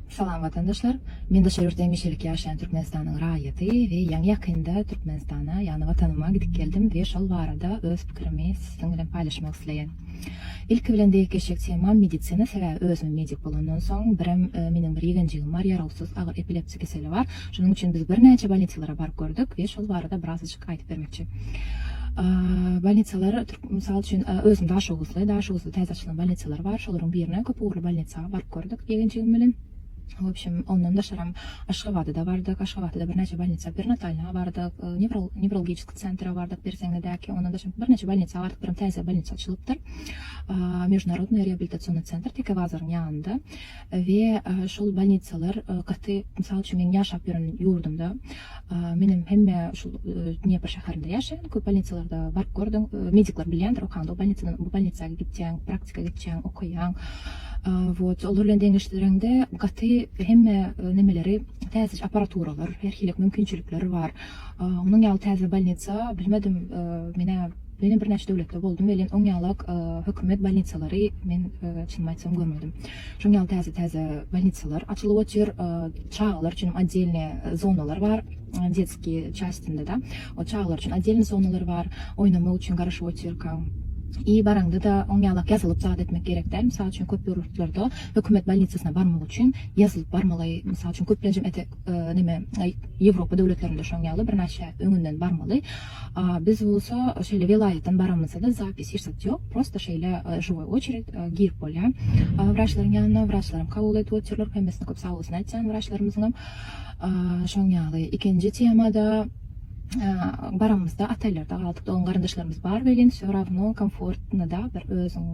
Salam watandaşlar! Men daşary ýurtda hemişelik ýaşaýan Türkmenistanyň raýaty we ýaňy ýakynda Türkmenistana ýagny watanyma gidip geldim we şol barada öz pikirimi siziň bilen paýlaşmak isleýän. Ilki bilen deýik geçjek temam medisina sebäbi özüm medik bolandan soň birem meniň bir ýegenjigim bar ýarawsyz agyr epilepsi keseli bar şonuň üçin biz birnäçe bolnisilara baryp gördük we şol barada biraz Aýdyp bermekçi. Bolnitsalar türk mysal üçin özüm Daşoguzly, Daşoguzda täze açylan bolnitsalar bar. Şolaryň birine köp ugurly bolnitsa baryp gördük eginjigim bilen. Wobşem, ondan daşaram Aşgabada-da bardyk. Aşgabada-da birnäçe bolnitsa, perinatalna bardyk, newrolgiçki sentra bardyk Berseňedäki. Ondan daşaram birnäçe bolnitsa bardyk, birem täze bolnitsa açylypdyr. Mejnarodnoý reabilitasionnýy sentr Tekebazaryň ýanynda. We şol bolnitsalar gaty mysal üçin meniň ýaşap ýören ýurdumda menem hemme şul Dnepr şäherinde ýaşaýan köp bolnitsalarda baryp gördüm medikler bilýändir okaňda o bolnitsadan bu bolnitsa gitýäň praktika geçýäň okaýaň wot olar bilen deňeşdireňde gaty hemme nemeleri täzeje aparaturalar her hili mümkinçilikler bar onuň ýaly täze bolnitsa bilmedim menä Menem bir näçe döwletde boldum welin oň ýalak hökümet bolnitsalary men çynymy aýtsam görmedim. Şoň ýaly täze täze bolnitsalar açylyp otyr. Çagalar üçinem otdelni zonalar bar. Detski çastindeda o çagalar üçin otdelni zonalar bar. Oýnamak üçin garaşyp otyrkaň i baraňdada oň ýalak ýazylyp zat etmek gerek däl. Mysal üçin köp ýurtlarda hökümet bolnitsasyna barmak üçin ýazylyp barmaly. Mysal üçin köplenjem ete neme Ýewropa döwletlerinde şoň ýaly bir näçe öňünden barmaly. Biz bolsa şeýle welaýatdan baramyzda-da zapis hiç zat ýok, prosta şeýle žiwoý oçered, girip bolýar wraçlaryň ýanyna, wraçlaram kabul edip otyrlar, hemmesine köp sagbolsun aýtýan wraçlarymyzyňam. Şoň ýaly, ikinji temada baramyzda otellerde galdyk, dogan garyndaşlarymyz bar welin wsё rawno komfortno da, bir özüň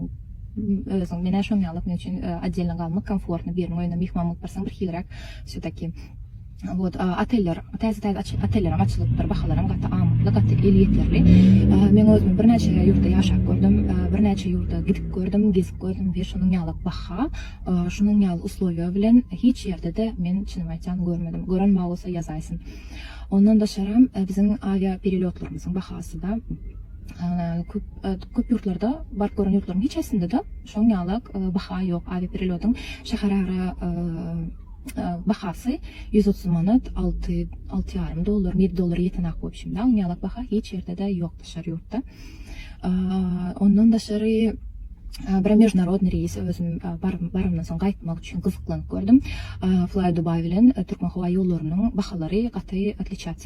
özüň menä şoň ýaly, men üçin otdelno galmak komfortno, biriniň öýünde myhman bolup barsaň bir hiliräk wsё taki. Wot oteller täze täze aç otellerem açylypdyr bahalaram gaty amatly gaty elýeterli men özüm birnäçe ýurtda ýaşap gördüm birnäçe ýurda gidip gördüm gezip gördüm we şunuň ýaly baha şunuň ýaly uslowiýa bilen hiç ýerdede men çynymy aýtsam görmedim gören bar bolsa ýazaýsyn ondan daşaram biziň awiýa perelýotlarymyzyň bahasyda köp köp ýurtlarda baryp gören ýurtlaryň hiç haýsynda da şoň ýalak baha ýok awiýa perelýodyň şäherara bahasy ýüz otuz manat, alty, alty ýarym dollar, ýedi dollara ýetenok bu ibşimde. Onuň ýalak baha hiç ýerde-de ýok daşary ýurtda. Ondan daşary bir mejnarodny reýs özüm barymdan soň gaýtmak üçin gyzyklanyp gördüm. Fly Dubai bilen Türkmen howa ýollarynyň bahalary gaty otlitçýasiýa.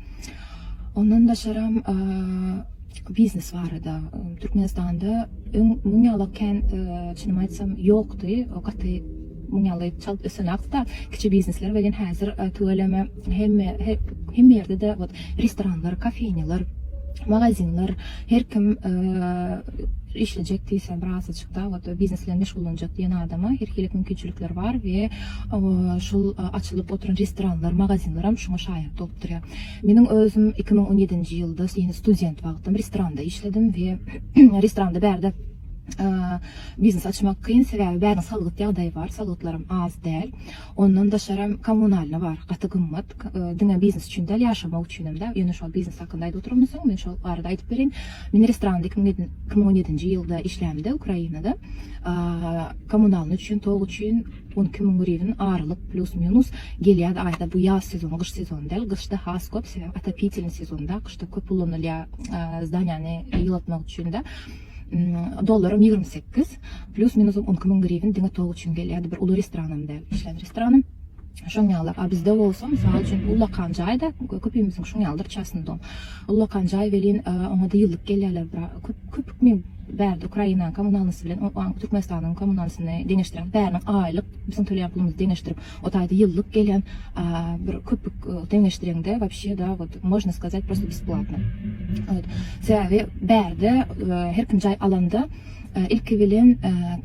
Ondan daşaram biznes barada Türkmenistanda öň muň ýaly kän çynymy aýtsam ýokdy. O gaty muň ýaly çalt ösen akda kiçi biznesler welin häzir tüweleme hemme hemme ýerde-de wot restoranlar, kafenýalar, magazinler her kim işlejek diýse biraz Dawut, Biznes bilen meşgullanjak diýen adama her hili mümkinçilikler bar we şol açylyp oturan restoranlar, magazinleram şuňa şaýat bolup durýar. Meniň özüm iki müň on ýedinji ýylda, ýene student wagtym restoranda işledim we restoranda bärde biznes açmak kyn, sebäbi bäriniň salgyt ýagdaýy bar, salgytlaram az däl. Ondan daşary hem kommunalny bar, gaty gymmat. Diňe biznes üçin däl, ýaşamak üçin hem-de. Ýöne şol biznes hakynda aýdyp oturanmysyň, men şol barada aýdyp bereýin. Men restoranda iki müň iki müň on ýedinji ýylda işlämde Ukrainada. Kommunalny üçin, tok üçin on iki müň griwin aralyk plýus-minus gelýärdi aýda. Bu ýaz sezony, gyş sezony däl. Gyşda has köp, sebäbi otopitelniý sezonda, gyşda köp ulanylýar zdaniýany ýylatmak üçin-de. Dollaram ýigrimi sekiz. Plus minus on iki müň griwen diňe tok üçin gelýärdi. Bir uly restoranam däl. Işlän restoranym. Şoň ýalylar. A bizde bolsa, mysal üçin, ullakan jaý-da, köpimiziň şoň ýalydyr çasnydom. Ullakan jaý welin, oňa-da ýyllyk gelýärler. Köp hükmi bärde Ukrainanyň kommunalnysy bilen Türkmenistanyň kommunalnysyny deňeşdiräýmäň. Bäriniň aýlyk, biziň töleýän pulumyzy deňeşdirip, O taýda ýyllyk gelýän bir köpük deňeşdireňde wapşe da wot možna skazat prosto besplatno wot sebäbi bärde her kim jaý alanda ilki bilen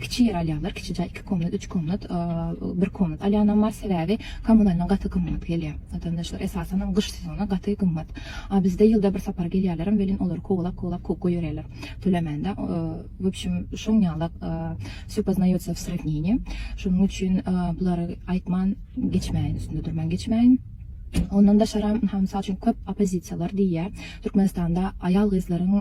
kiçi ýer alýarlar kiçi jaý iki komnat üç komnat bir komnat alýanam bar sebäbi kommunalnyň gaty gymmat gelýär watandaşlar esasanam gyş sezony gaty gymmat a bizde ýylda bir sapar gelýärlerem welin olary kowalap kowalap kowup goýberýärler tölemände wobşem şoň ýalak. Vsё poznoýotsa w srawnenýe, şonuň üçin bulary aýtman geçmäýin, üstünde durman geçmäýin. Ondan daşaram, ynha, mysal üçin, köp oppozisiýalar diýýär, Türkmenistanda aýal-gyzlaryň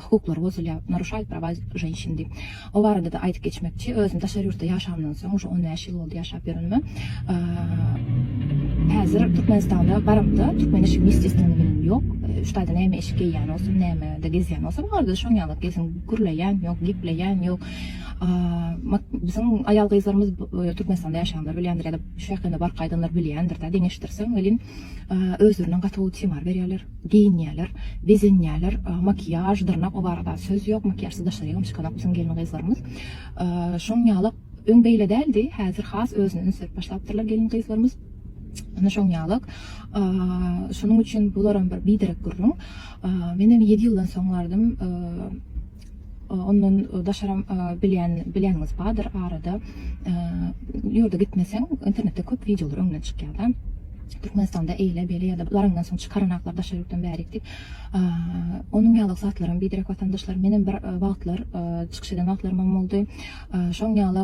hukuklary bozulýar, naruşaýt prava ženşin diýip. O barada-da aýdyp geçmekçi, özüm daşary ýurtda ýaşamdan soň, uje on bäş ýyl boldy ýaşap ýörenime, häzir Türkmenistana baramda, türkmen eşigi mis jesleneni meniň ýok, üç taýda näme eşik geýýän bolsam, nämede gezýän bolsam, olarda-da şoň ýaly gezin, gürleýän ýok, gepleýän ýok. Biziň aýal-gyzlarymyz Türkmenistanda ýaşaýanlar bilýändir ýa-da şu ýakynda baryp gaýdanlar bilýändir-de, deňeşdirseň welin, özlerinden gaty gowy timar berýärler, geýinýärler, bezenýärler, makiýaž, dyrnak, o barada söz ýok, makiýažsyz daşary ýylam çykanok biziň gelin-gyzlarymyz. Şoň ýaly, öň beýle däldi, häzir has özüne üns berip başlapdyrlar gelin-gyzlarymyz. Ine, şoň ýaly, şonuň üçin bularam bir biderek gürrüň. Menem ýedi ýyldan soň bardym. Ondan daşaram bilýän bilýäniňiz bardyr arada ýurda gitmeseň internetde köp wideolar öňüne çykýarda Türkmenistanda eýle beýle ýa-da laryňdan soň çykaranaklar daşary ýurtdan bärik diýip onuň ýaly zatlaram biderek watandaşlar menem bir wagtlar çykyş eden wagtlarymam boldy şoň ýaly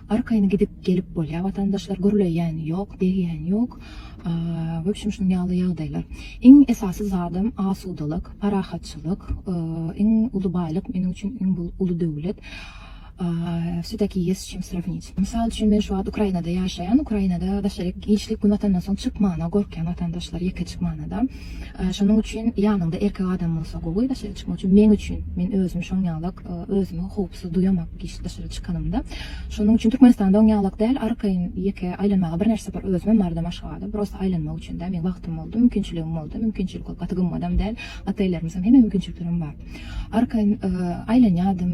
Arkaýyn gidip gelip bolýar watandaşlar gürleýän ýok degýän ýok webşem şunuň ýaly ýagdaýlar iň esasy zadam asudalyk parahatçylyk iň uly baýlyk meniň üçin iň uly döwlet wse takiýe ýes çim srawnić mysal üçin men şu wagt ukrainada ýaşaýan ukrainada daşary işlik gün batandan soň çykmana gorkýan watandaşlar ýeke çykmanada şonuň üçin ýanyňda erkek adam bolsa gowy daşary çykmak üçin meň üçin men özüm şoň ýalyk özümi howpsuz duýamok. Hiç daşary çykanymda. Şonuň üçin Türkmenistanda oň ýalak däl, arkaýyn ýeke aýlanmaga birnäçe sapar özümem bardym Aşgabada. Prosta aýlanmak üçin dä, meň wagtym boldy, mümkinçiligim boldy. Mümkinçilik ol gaty gymmadam däl. Ata-enelerimiziň hemme mümkinçiliklerem bar. Arkaýyn aýlanýardym,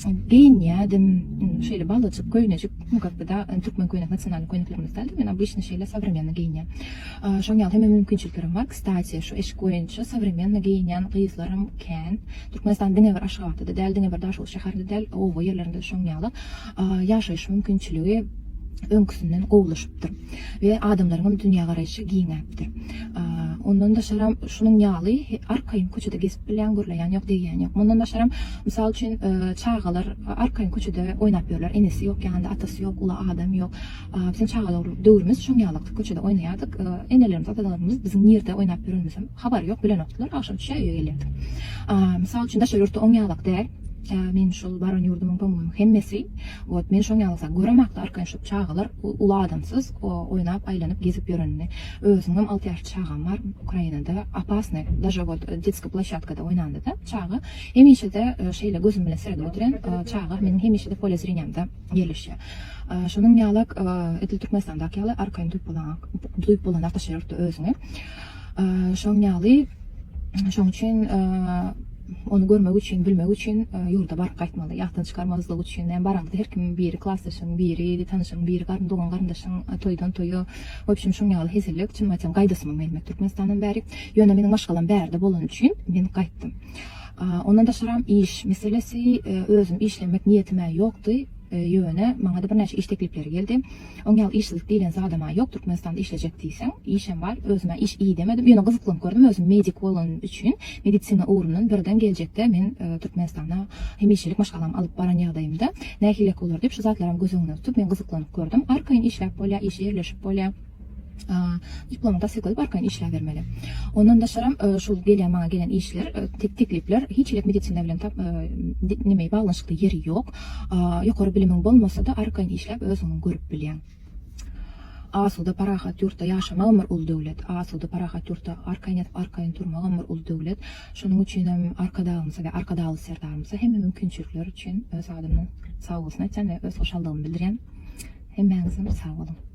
geýinýärdim. Şeýle balajyk köýnejik, nu kak by da türkmen köýnek nasionalnyý köýneklerimiz däl-de, men obýçny şeýle sowremenno geýinýän. Şoň ýaly hemme mümkinçiliklerem bar. Kstati, şu eşik boýunça sowremenno geýinýän gyzlaram kän. Türkmenistan diňe bir Aşgabatda-da däl, diňe bir Daşoguz şäherinde-de däl, oba ýerlerinde-de şonuň ýaly ýaşaýyş mümkinçiligi öňküsinden gowulaşypdyr we adamlaryň hem dünýägaraýşy giňäpdir. Ondan daşaram şunuň ýaly arkaýyn köçede gezip bilýän, gürleýän ýok, degýän ýok. Mundan daşaram, mysal üçin, çagalar arkaýyn köçede oýnap ýörler, enesi ýok ýanynda, atasy ýok, uly adam ýok. Biziň çagalar döwrümiz şoň ýalykdy, köçede oýnaýardyk. Enelerimiz, atalarymyz biziň nirde oýnap ýörenimizem. Habary ýok bilenokdylar, agşam düşe öýe gelýärdi. Mysal üçin daşary ýurtda oň ýalak däl. Meniň şol baran ýurdumyň tomuň hemmesi wot men şoň ýalak zat göremakdy arkaýyn şop çagalar uly adamsyz oýnap aýlanyp gezip ýörenini özüňem alty ýaşly çagam bar ukrainada opasny daže wot detski plashatkada oýnandada çaga hemişede şeýle gözüm bilen seredip otyren çaga meniň hemişede pole zreniýamda ýerleşýä şonuň ýalak edil türkmenistandaky ýaly arkaýyn duýup bolaňok duýup bolaňok daşary ýurtda özüňi. Şoň ýaly, şoň üçin ony görmek üçin, bilmek üçin ýurda baryp gaýtmaly. Ýatdan çykarmazlyk üçin, näme baraňyzda her kimiň biri klasdaşyň, biri tanyşyň, biri garyn dogan garyndaşyň toýdan toýa, wobşem şoň ýaly hezillik, çynymy aýtsam gaýdasymam gelmedi Türkmenistandan bäri. Ýöne meniň maşgalam bärde bolany üçin men gaýtdym. Ondan daşaram iş meselesi, özüm işlemek niýetim-ä ýokdy, ýöne maňa-da birnäçe iş teklipleri geldi. Oň ýaly işsizlik diýlen zadam-a ýok, Türkmenistanda işlejek diýseň, işem bar, özüm-ä iş idemedim, ýöne gyzyklanp gördüm, özüm medik bolanym üçin, medisina ugrundan birden geljekde men Türkmenistana hemişelik maşgalamy alyp baran ýagdaýymda nähilek bolar diýip, şu zatlaram göz öňünde tutup, men gyzyklanyp gördüm. Arkaýyn işläp bolýar, işe ýerleşip bolýar, diplomy tassykladyp arkaýyn işläbermeli. Ondan daşaram şul gelýän maňa gelen işler, teklipler hiç hili medisina bilen tap, nimeý, baglanyşykly ýeri ýok. Ýokary bilimiň bolmasa-da, arkaýyn işläp özüňi görüp bilýäň. Asuda, parahat ýurtda ýaşamagam bir uly döwlet. Asuda, parahat ýurtda arkaýyn ýatyp, arkaýyn turmagam bir uly döwlet. Şonuň üçinem Arkadagymyza we Arkadagly Serdarymyza hemme mümkinçilikler üçin öz adymdan sag bolsun aýtýan we öz hoşallygymy bildirýän. Hemmäňizem sag boluň!